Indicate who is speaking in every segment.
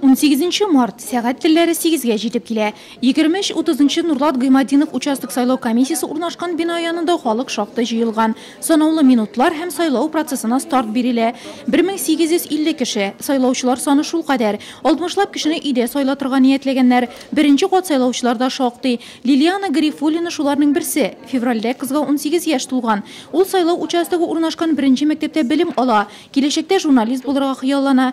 Speaker 1: 18 март сәгать телләре 8-гә җитеп килә. 23-30 Нурлат Гыймадинов участок сайлау комиссиясе урнашкан бина янында халык шактый җыелган. Санаулы минутлар һәм сайлау процессына старт бирелә. 1850 кеше. Сайлаучылар саны шул кадәр. 60 лап кешене өйдә сайлатырга ниятләгәннәр. Беренче кат сайлаучылар да шактый. Лилиана Гарифуллина шуларның берсе. Февральдә кызга 18 яшь тулган. Ул сайлау участогы урнашкан беренче мәктәптә белем ала. Киләчәктә журналист булырга хыяллана.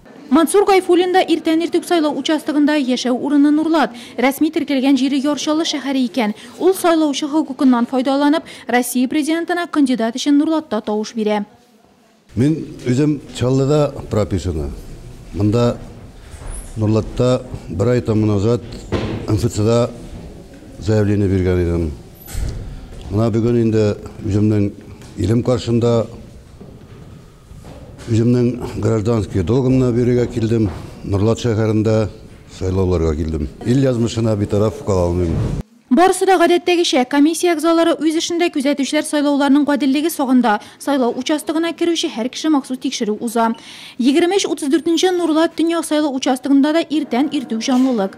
Speaker 2: Мансур Гайфуллин
Speaker 1: да иртән иртүк сайлау участогында, яшәү урыны Нурлат. Рәсми теркәлгән җире Яр Чаллы шәһәре икән. Ул, сайлаучы хокукыннан файдаланып, Россия Президентына кандидат өчен Нурлатта тавыш бирә. Мин
Speaker 3: үзем Чаллыда прописаны. Монда Нурлатта бер ай тәмам назад МФЦда заявление биргән идем. Менә бүген инде үземнең илем каршында. Үземнең гражданский долгымны бирергә килдем. Норлат шәһәрендә сайлауларга килдем. Ил язмышына битараф кала алмыйм. Барысы да
Speaker 1: гадәттәгечә, комиссия әгъзалары үз эшендә, күзәтүчеләр сайлауларның гаделлеге сагында. Сайлау участогына керүче һәр кеше махсус тикшерү уза. Егерме өч, утыз дүртенче Норлат төньяк сайлау участогында да иртән иртүк җанлылык.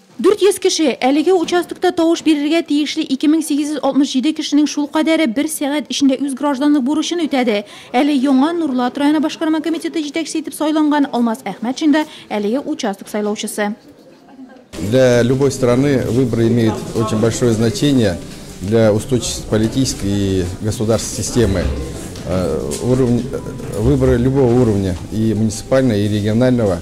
Speaker 4: 400
Speaker 1: кеше, әлеге участокта тавыш бирергә тиешле 2867 кешенең шулкадәре бер сәгать эчендә үз гражданлык бурычын үтәде. Әле яңа Нурлат районы башкарма комитеты җитәкчесе итеп сайланган Алмаз Әхмәтшин да, әлеге участок сайлаучысы. Для
Speaker 5: любой страны выборы имеют очень большое значение для устойчивости политической и государственной системы. Выборы любого уровня, и муниципального, и регионального.